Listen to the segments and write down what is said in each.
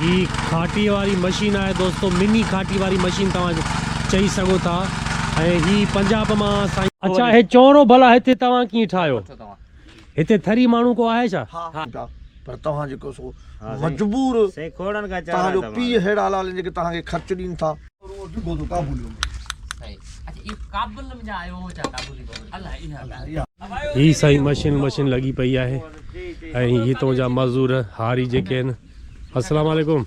هي کاٽي واري مشين آهي دوستو مني کاٽي واري مشين توهان چئي سگهو ٿا ۽ هي پنجاب مان سائين. اڇا هي چوڻو ڀلا هتي توهان ڪيئن ٺاهيو هتي ٿري ماڻهو ڪو آهي ڇا. ها پر توهان جيڪو سو مجبور توهان جو پيء ههڙا لال جيڪي توهان کي خرچ ڏين ٿا. هي سائين مشين مشين لڳي پئي آهي ۽ هتون جا مزور هاري جيڪي آهن. السلام عليڪم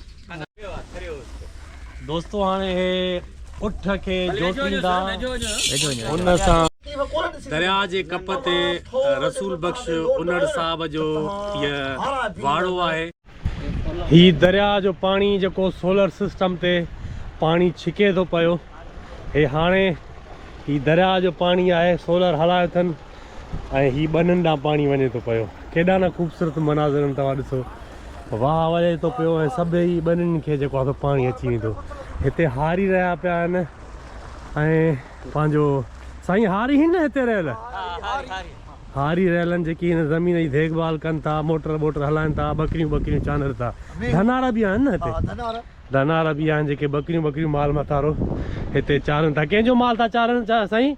دوستو هاڻي هي اٺ کي جوٽيندا ان سان دريا جي ڪپ تي رسول بخش انڙ صاحب جو هي واڙو آهي هي دريا جو پاڻي جيڪو سولر سسٽم تي پاڻي ڇڪي ٿو پيو هي هاڻي هي دريا جو پاڻي آهي سولر هلايو اٿن ۽ هي ٻنن ڏانهن پاڻي وڃي ٿو پيو ڪيڏا نه خوبصورت مناظر توهان ڏسو واهه وڄي ٿو پيو ۽ سڀئي ٻنن کي جيڪو آهي پاڻي اچي ويندو هتي هاري رهيا پيا آهن ۽ پنهنجو سائين هاري هن نه هتي رهيل هاري رهيل آهن جيڪي هن زمين جي ديکڀال ڪن ٿا موٽر ووٽر هلائن ٿا ٻڪريون ٻڪريون چانڊن ٿا ڌنارا به آهن نه هتي ڌنارا به آهن جيڪي ٻڪريون ٻڪريون مال مٿارو هتي چارن ٿا ڪنهن جو مال ٿا چارن سائين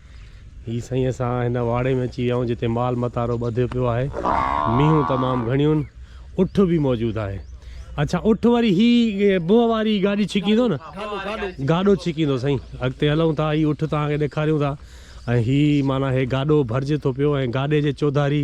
هي سائين اسان هن واڙي ۾ اچي ويا آهيون جتي مال متارو ٻڌيو پيو آهي مينهون تمام گهڻيون اٺ به موجود آهي اچھا اٺ وري هي بوه واري گاڏي ڇڪيندو نه گاڏو ڇڪيندو سائين اڳتي هلون ٿا هي اٺ توهان کي ڏيکاريون ٿا ۽ هي معنيٰ هي گاڏو ڀرجي ٿو پيو ۽ گاڏي جي چوڌاري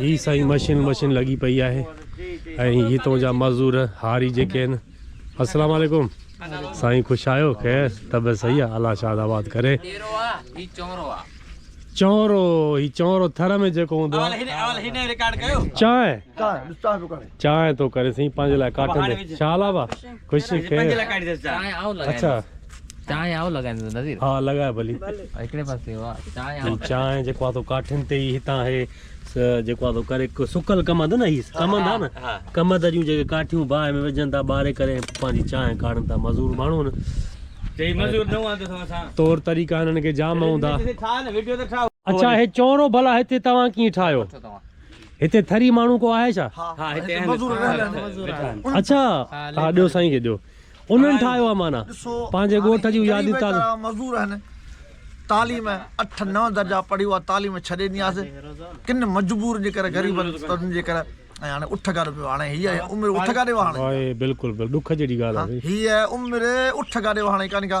هي سائين مشين مشين لڳي پئي آهي ۽ هتون جا مزور هاري جيڪي آهن السلام عليڪم سائين خوش آيو خير طبيعت صحيح آ الله شاد آباد ڪري چونرو هي چونرو ٿر ۾ جيڪو هوندو آ چانه چانهه تو ڪري سائين پنهنجي لاء ڪاٽين تي شال آبا خوش خير اچھا چانهه آئون لڳائيندس نظير ها لڳاء ڀلي هڪڙي پاسي هو چانهه آئون چانهه جيڪو آ تو ڪاٺين تي ئي هتان هي جيڪو آ تو ڪري سڪل ڪمند نه هي ڪمند آ نه ڪمند جون جيڪي ڪاٺيون باهه ۾ وجهن ٿا ٻاري ڪري پنهنجي چانهه ڪاڙهن ٿا مزور ماڻهو نه چي مزور نه هوندا سو اسان طور طريقا هنن کي جام هوندا اچھا هي چونرو ڀلا هتي توهان ڪيئن ٺاهيو هتي ٿري ماڻهو ڪو آهي ڇا؟ ها ها هتي آهن مزور آهن اڇا ها ڏيو سائين کي ڏيو انهن ٺاهيو آهي معنيٰ پنهنجي ڳوٺ جون ياديون تازو مزور آهن تعليم اٺ نه درجا پڙهي اها تعليم ڇڏي ڏني آسي ڪن مجبور جي ڪري غريبن تن جي ڪري ۽ هاڻي اٺ گاڏو پيو هاڻي هي عمر اٺ گاڏي وهاڻي هي بلڪل بلڪل ڏک جهڙي ڳالهه آهي هي عمر اٺ گاڏي وهاڻي ڪاني ڪا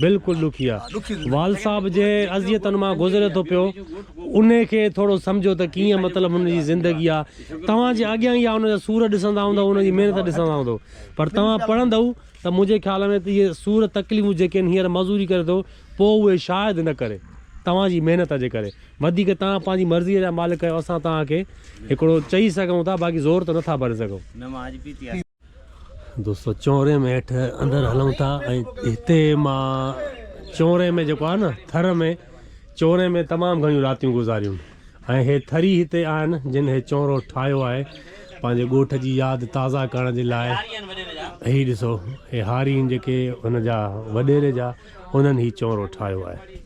بلڪل ڏکيا وال صاحب جنهن اذيتن مان گذري ٿو پيو انهي کي ٿورو سمجهو ته ڪيئن مطلب هن جي زندگي آ توهان جي اڳيان اها هن جا سور ڏسندا هوندؤ هن جي محنت ڏسندا هوندؤ پر توهان پڙهندؤ ته منهنجي خيال ۾ ته اهي سور تڪليفون جيڪي هن هينئر مزوري ڪري ٿو پوء اهي شايد نه ڪري توهان جي محنت جي ڪري وڌيڪ توهان پنهنجي مرضي جا مالڪ آهيو اسان توهان کي هڪڙو چئي سگهون ٿا باقي زور ته نه ٿا ڀري سگهون. دوستو چونري ۾ هيٺ اندر هلون ٿا ۽ هتي مان چونري ۾ جيڪو آهي نه ٿر ۾ چونري ۾ تمام گهڻيون راتيون گذاريون ۽ هي ٿري هتي آهن جن هي چونرو ٺاهيو آهي پنهنجي ڳوٺ جي ياد تازا ڪرڻ جي لاء هي ڏسو هي هارين جيڪي هن جا وڏيري جا انهن هي چونرو ٺاهيو آهي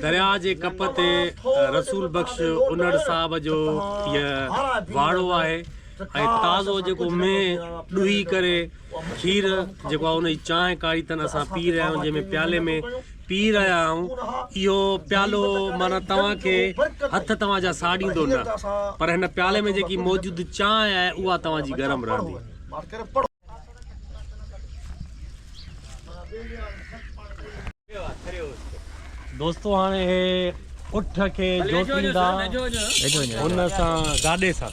درياء جي ڪپ تي رسول بخش انڙ صاحب جو هي واڙو آهي ۽ تازو جيڪو مينهن ڏوهي ڪري کير جيڪو آهي ان جي چانهه ڪاڙهي تن اسان پي رهيا آهيون جنهن ۾ پيالي ۾ پي رهيا آهيون، اهو پيالو معنيٰ توهان کي هٿ توهان جا ساڙيندو نه، پر هن پيالي ۾ جيڪي موجود چانهه آهي، اها توهان جي گرم رهندي. دوستو هاڻي اهي اٺ کي جوتيندا هن سان گاڏي سان.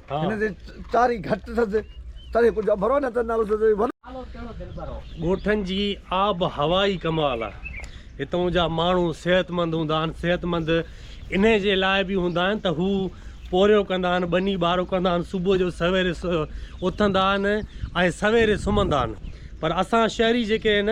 هن جي چاري گهٽ اٿس تڏهن ڪجهه اڀرو نه ته نالو سندس ڳوٺن جي آب هوا ئي ڪمال آ هتون جا ماڻهو صحت مند هوندا آهن صحت مند انهي جي لاء به هوندا آهن ته هو پورهيو ڪندا آهن ٻني ٻارو ڪندا آهن صبح جو سويري اٿندا آهن ۽ سويري سمهندا آهن پر اسان شهري جيڪي آهن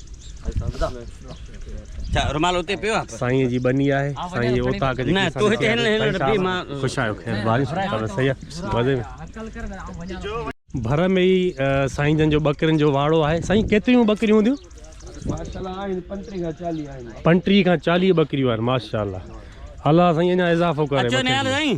سائين جي ٻني آهي سائين جي اوطاق جي نه تو هتي هلن هلن ربي مان خوش آيو خير بارش ته سهي آهي مزي ۾ ڀر ۾ ئي سائين جن جو ٻڪرين جو واڙو آهي سائين ڪيتريون ٻڪريون هونديون ماشاءالله آهن 35 کان 40 آهن 35 کان 40 ٻڪريون آهن ماشاءالله الله سائين اڃا اضافو ڪري اچو نيال سائين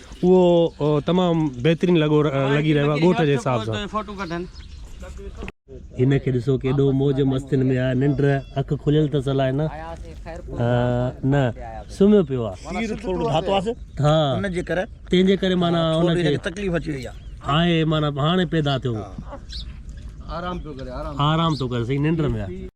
اهو تمام بهترين لڳو لڳي رهيو آهي ڳوٺ جي حساب سان فوٽو ڪڍن هن کي ڏسو ڪيڏو موج مستين ۾ آهي ننڊ اک کليل اٿس الائي نه نه سمهيو پيو آهي سير ٿورو ڌاتو آهي ها ان جي ڪري تنهن جي ڪري معنيٰ ان کي تڪليف اچي وئي آهي آهي معنيٰ هاڻي پيدا ٿيو آرام پيو ڪري آرام آرام ٿو ڪري سائين ننڊ ۾ آهي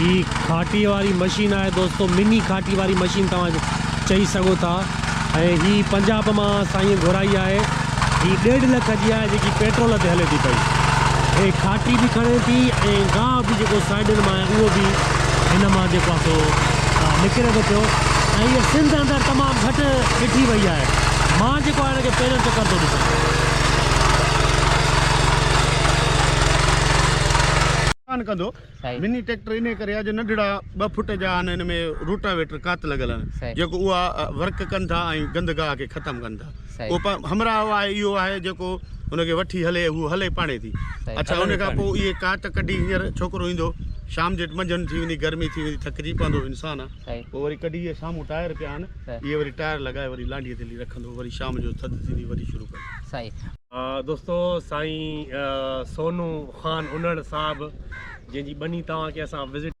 هي کاٽي واري مشين آهي دوستو مني کاٽي واري مشين توهان چئي سگهو ٿا ۽ هي پنجاب مان سائين گهرائي آهي هي ڏيڍ لک جي آهي جيڪي پيٽرول تي هلي ٿي پئي هي کاٽي به کڻي ٿي ۽ گاهه به جيڪو سائيڊن مان آهي اهو به هن مان جيڪو آهي سو نڪري ٿو پيو ۽ هي سنڌ اندر تمام گهٽ ڏٺي وئي آهي مان جيڪو آهي هن کي پهريون چڪر ٿو ڏسان. ڪندو. مني ٽريڪٽر انهيء ڪري آهي جو ننڍڙا ٻه فٽ جا آهن ان ۾ روٽاويٽر ڪات لڳل آهن جيڪو اها ورڪ ڪن ٿا ۽ گند گاهه کي ختم ڪن ٿا پوء همراهه آهي اهو آهي جيڪو ان کي وٺي هلي هو هلي پاڻي ٿي اڇا ان کان پوء اهي ڪات ڪڍي هينئر ڇوڪرو ايندو شام جي منجهند ٿي ويندي گرمي ٿي ويندي ٿڪجي پوندو انسان آهي پوء وري ڪڍي اهي سامهون ٽائر پيا آهن اهي وري ٽائر لڳائي وري لانڍيء تي لي رکندو وري شام جو ٿڌ ٿيندي وري شروع ڪندو دوستو سائين سونو خان انڙ صاحب جنهن جي ٻني توهان کي اسان وزٽ.